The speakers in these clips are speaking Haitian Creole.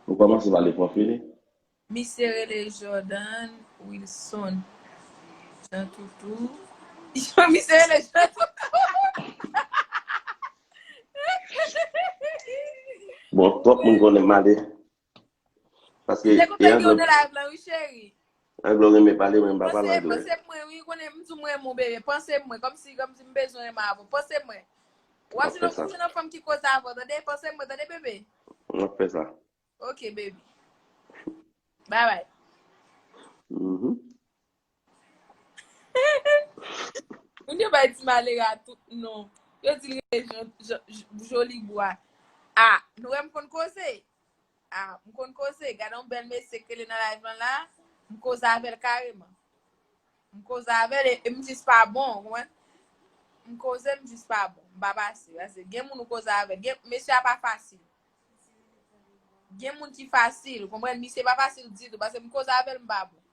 Ou komanse pale prof Willy. Misye rele Jordan Wilson Jean Toutou. Yo misye rele Jean Toutou. Bon twòp moun konnen male. Paske. Li te konn fè yon de live lan wi cheri. Anglè ou renmen pale mwen m pa pale anglè. Panse mwen wi, ou konnen m di w m renmen w bebe, panse mwen, kòmsi kòmsi m bezwen renmen avè w, panse mwen. Wap jwenn wap jwenn yon fanm ki koze avè w tande, panse mwen tande bebe. Map fè sa. Ok baby. Bye bye. Uhmm. Moun yo bay ti malere a tout non. Yo di l rele jolibwa. Ah, nou wè m konn koze. Ah m konn koze, gade yon bèl mesye k rele nan live lan la, m koze avè l kareman. M koze avè l e m jis pa bon, ou konprann? M koze m jis pa bon, m pa pase. Pase gen moun ou koze avè l, gen mesye a pa fasil. Gen moun ki fasil, ou konprann? Misye pa fasil ditou, pase m koze avè l m pa bon.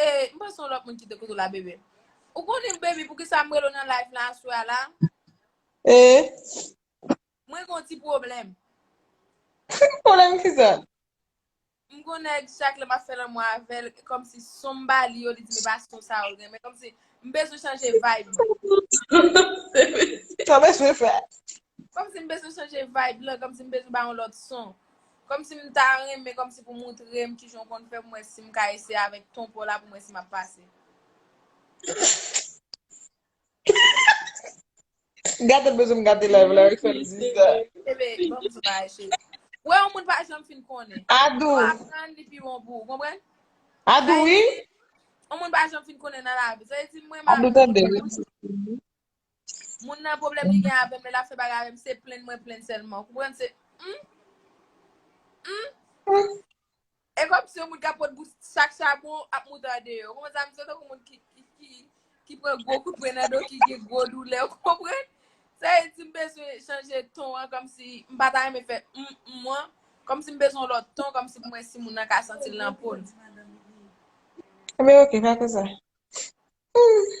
E m panse yon lòt moun ki te kote w la bebe. Ou konnen baby poukisa m rele w nan live la aswè a la? E? Mwen gen yon ti pwoblèm. Pwoblèm ki sa? M gen yon nèg chak lè m ap fè lanmou avè l, kòm si son m ba li yo li di m e pa son sa yo l renmen. Kòm si m bezwen chanje vibe mwen. Sa w bezwen fè? Kòm si m bezwen chanje vibe lan, kòm si m bezwen ba yon lòt son. Kòmsi m ta renmen kòmsi pou moutre m kijan w konn fè pou m wè si m ka eseye avèk ton paw la pou m wè si map pase. Gade l bezwen m gade live la wi fèm di sa. Bebe, banm sou bagay cheri. Wè yon moun pa janm fin konnen. Adou. Lè w aprann li pi bon pou ou, konprann? Adou wi. Yon moun pa janm fin konnen nan lavi. Sa vle di mwen m avèw. Adou tande. Moun nan pwoblèm li gen avèm lè lap fè bagay avèm se plenn mwen plenn sèlman ou konprann se humm humm e kòm si yon moun kap pot bout chak chabon ap moutade yo ou konprann sa m santi m tankou moun ki ki pran gwo kout pwen nan do ki gen gwo doulè ou konprann sa e di m bezwen chanje ton an kòm si m pa ta renmen fè humm humm an kòm si m bezwen yon lòt ton kòm si pou m wè si moun nan ka santi l nan po l. Ebyen ok fè konsa humm.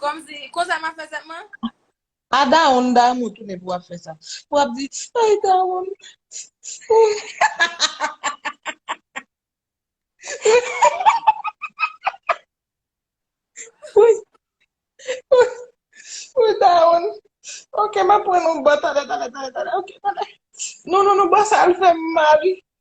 Komsi, konsa map fè sèt mwen? A dawonn damou tounen pou wap fè sa. Pou wap di, ay dawonn. Wouyy. Wouyy dawonn. Ok map pran yon bo talè talè talè talè ok talè. Non non non bo sa al fèm mal.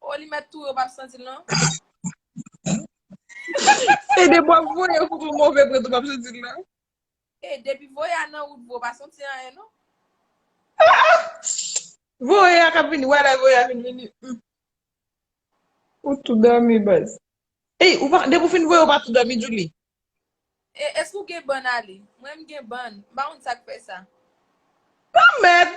Oh li met tou yo pap santil non. Se de bwa voye ou pou move prèt ou pap santil non. E depi voye a nan wout vre ou pa santi anyen non. Voye a kap vini wè lè voye a vin vini. Ou tou dòmi baz. Ey ou pa depi ou fin voye ou pa tou dòmi Djouly. E eske ou gen bann ale. Mwen m gen bann. M pa konn sak fè sa. Lanmèd.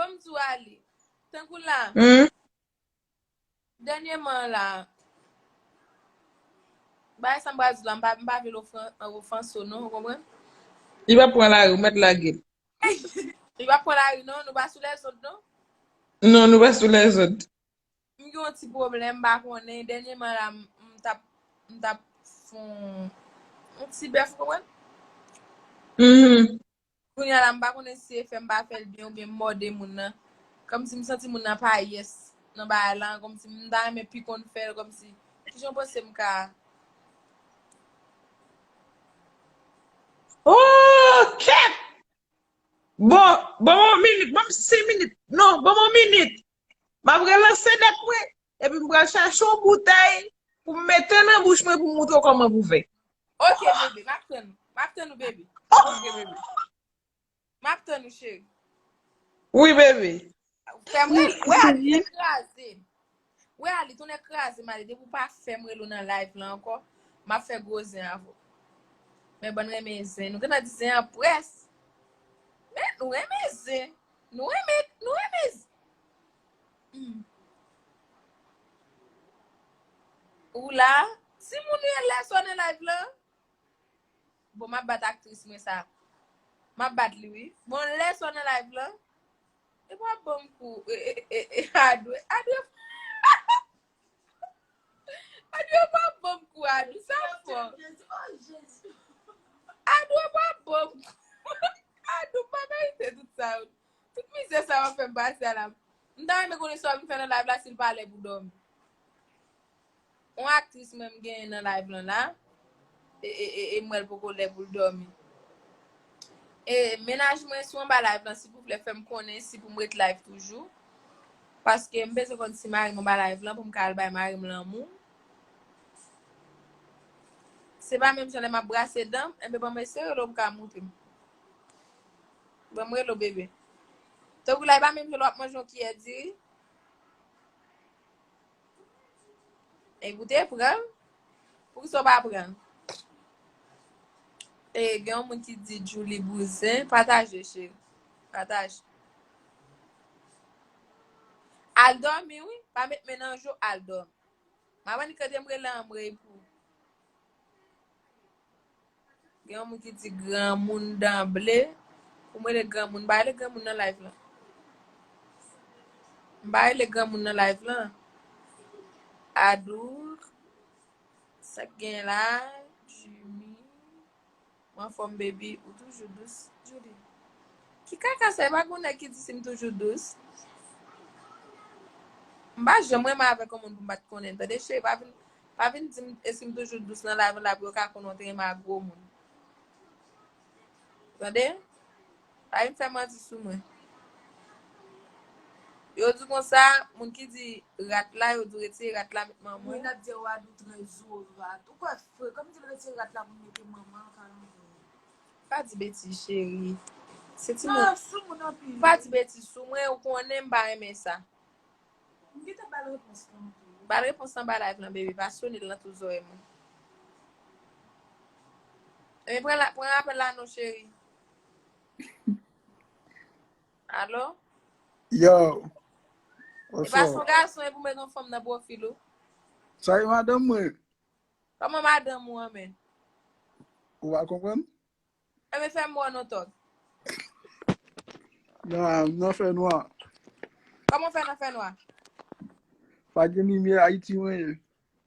Bon m di w Arly, tankou la, dènyèman an la, bagay sa m pral di w la, m pa vle l ofanse w non, ou konprann? Li pa pran lari, ou mèt lage l. Li pa pran lari non, nou pa sou lèzond non. Non, nou pa sou lèzond. M gen yon ti pwoblèm, m pa konnen, dènyèman an la, m t ap, m t ap fon yon ti bèf, ou konprann? Kounya la m pa konnen si se fè m pa fè l byen oubyen m mòde moun nan. Kòmsi m santi moun nan pa yes nan bagay lan, kòmsi m ta renmen pi konn fè l, kòmsi kijan w panse m ka. Ooh kèt! Bon, ban mwen yon minit, ban m 5 minit. Non, ban mwen yon minit. M ap relanse dèt mwen, epi m pral chache yon boutèy pou m mete nan bouch mwen pou m montre w kòman pou fè. Ok bebe, m ap tann ou. M ap tann ou baby. Ok bebe. M ap tann ou cheri. Wi bebe. Fè m rele. Wè a li te kraze. Wè a li tounen kraze m ale. Depi w pa fè m rele w nan live lan ankò, m ap fè gwo zen avè w. Men bann renmen zen. Nou gentan di zen an près. Men nou renmen zen. Nou renmen, nou renmen z. Humm. Ou la? Ti moun rele lè sa w nan live lan? Bon map bat aktris mwen sa. Map bat li wi. Bon lè sa w nan live lan? Epi wap banm kou. Adwe, Adwe. Adou yo pa bonm kou Adou sa fò. Adou yo pa bonm kou. Adou pa merite tout sa yo. Tout mizè sa wap fèm pase a la. M ta renmen konnen sa wap vin fè nan live la sil pa lè pou dòmi. On aktris menm genyen nan live lan la. e m wèl poko lè poul dòmi e mennaj mwen sou anba live lan silvouplè fèm konnen si poum ret live toujou paske m bezwen konn si marim anba live lan poum ka al bay marim lanmou se pa menm jan lè map brase danm enben banm eseye rele w pou ka moutre m banm rele w bebe tankou la e pa menm jan lè wap manje yon kiyè diri. E goute pranl. Pou ki sa ou pa pranl? E gen yon moun ki di Djoulie bouzen. Pataje cheri. Pataje. Al dòmi wi. Pa met men nan jou al dòmi. Maman ni kante m rele an m reypou. Gen yon moun ki di granmoun dan ble. Pou m rele granmoun, m pa rele granmoun nan live lan. M pa rele granmoun nan live lan. Adour, sa k gen la, Jimmy, m anfòm baby, ou toujou dous, Djouly. Ki kaka sa e pa gen yon nèg ki di si m toujou dous. M pa janm renmen avèk yon moun pou m pa t konnen l tande cheri pa vin Pa vin dim esim toujou dous nan lavi la pou yo ka konnen w te renmen ak gwo moun. Tande? Pa vin fè manti sou mwen. Yo di konsa, moun ki di rat la, yo di retire rat la met manman. Moun ap di wa dou trè zo rat. Ou kwè fre, kòm di l retire rat la pou mete manman l ka nan zen. Pa di betiz cheri. Se ti moun. Sa sou moun anpil. Pa di betiz sou mwen, ou konnen m pa renmen sa. M gentan bal repons lan tou. Bal repons anba live lan bebe pa sonel nan tout zorey mwen. Ebyen pran la pran apel la non cheri. Allo? Yo. E pa son gason e pou met yon fanm nan profil ou. Sa e madanm mwen. Koman madanm ou an men? Ou pa konprann? Fèmen fè mwa non tog. Nan nan fè nwa. Koman w fè nan fè nwa? Pa gen limyè Ayiti mwen ye.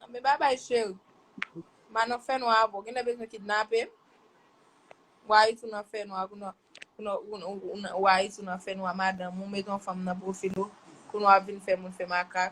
An men babay cheri. Ma nan fè nwa avè w. Genlè bezwen kidnape m. Ou Ayiti ou nan fè nwa. Ou Ayiti ou nan fè nwa madanm ou met yon fanm nan pwofil ou. Kounye w ap vin fè moun fè makak.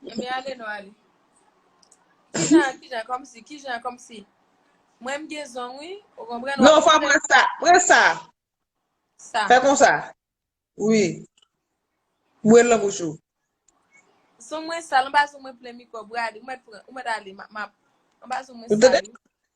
Mwen ale nou ale. Kijan, kijan, kom si, kijan, kom si. Mwen m gen zong wi, ou konpren? Non, fwa pran sa, pran sa. Sa. Fè kon sa. Wi. Mwen lan bouch ou. Zong mwen sal, mwen pa zong mwen plen mikwòb, ou mèt ale, map. Mwen pa zong mwen sal.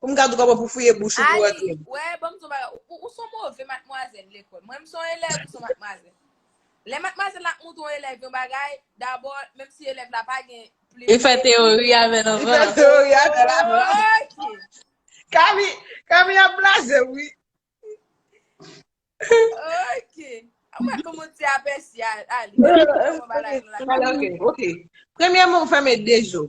Pou m ka tou kapab pou fouye bouch ou pou antre. Aly, wè, ban m di w yon bagay, ou son move matmwazèl lekòl. Mwen m son elèv, ou son matmwazèl. Lè matmwazèl la ap montre yon elèv yon bagay, dabò, menm si elèv la pa gen plim nan men li. Li fè teyori avè l anvan. Li fè teyori avè l anvan. Ok. Kami ap blaze w wi. Ok. Ou wè kòman w ti apèsi Aly. Aly, ok. Premyèman ou fèmen de je w.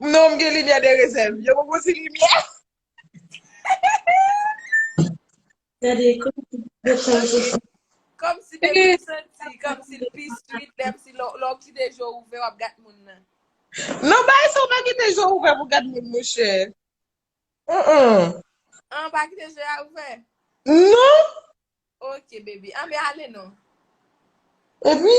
Non m gen limyè de rezèv. Yo ban mwen ti limyè. Gade kòm si yo kòl sou sa. Kòm si depi m santi, kòm si l pi sweet lè m si lè w kite je w ouvè w ap gad moun nan. Non bagay sa w pa kite je w ouvè pou w gad moun monchè. An. An w pa kite je a ouvè? Non. Ok baby. An men ale non. Epi.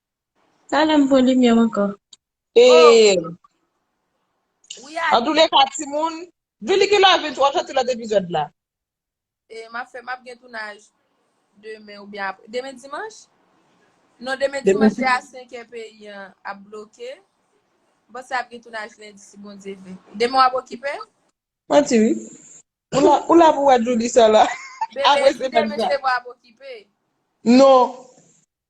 Talè m pran limyè m ankò. Eeew Antoulèka timoun Djouly ki lè vin wap sòti lòt epizòd la. E map fè map gen tounaj demen oubyen aprè demen dimanch? Non demen dimanch se a 5 è peyi an ap bloke m panse ap gen tounaj lendi si Bondye vle demen wap okipe? Manti wi ou la pou wè Djouly sèl aprè semèn sa. Demen se vre ap okipe? Non.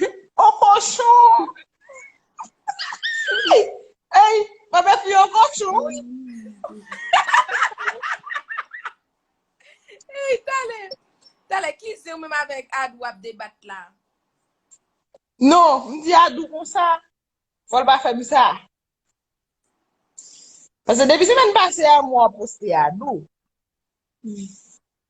Yon kochon! Ey, mwen mèt li yon kochon, wi. Ey, talè, talè, ki ze ou menm avèk Adou ap debat la? Non, m di Adou konsa, fò l pa fè m sa. Pase depi semèn pase a, m wè w ap poste Adou.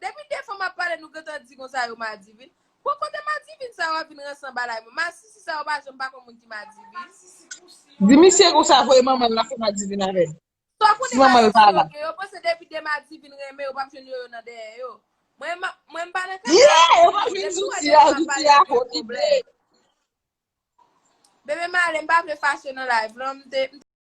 Depi de fanm ap pale nou gentan di konsa yo madivin, bon kote madivin sa yo ap vin ranse nan balay mwen, masisi sa yo pa janm pa konn moun ki madivin. Di misye konsa voye manmanl la fè madivin avèl si manmanl pa la. Yo panse depi 2 madivin renmen yo pap jwenn yoyo nan dèyè yo. Mwen mwen pa nan kay sa non boo. Yo pap jwenn zouti a, zouti a ho vide. Bebe male m pa vle fache nan live lan m te.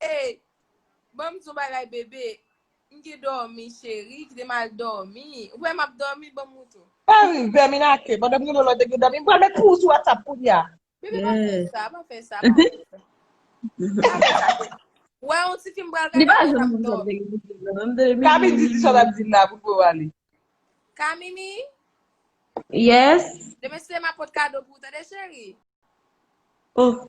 Hey banm di yon bagay bebe. M gen domi cheri kite m al domi ou kwè map domi banm moutou. Hey vèmin ake pandan m gen lòlò te gen domi m pral met pou ou sou whatsapp kounya. Bebe pa fè sa pa fè sa pa fè sa. Pa fè sa bebe. Ou wè yon ti fim pral gade epi lap domi. Kami di ti sa lap di la pou pou ale. Kamini. Yes. Demen se map pot kado pou ou tande cheri. Oh.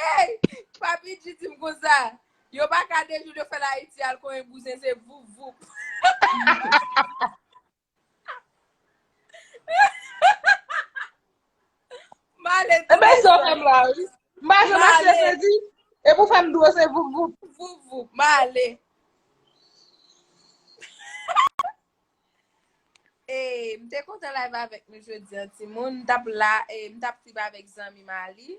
Hey, papi G di m konsa. Yo pa ka de jou yo fè la Haiti al konyen bouzen se voup voup. Male E tou men sa w fè m la wi. M pa janm achte Male. fredi. E pou fè m dlo se voup voup. voup voup. Male. Hey m te kontan live avèk nou jodi an timoun, m tap la, m tap trip avèk zanmi m Ali.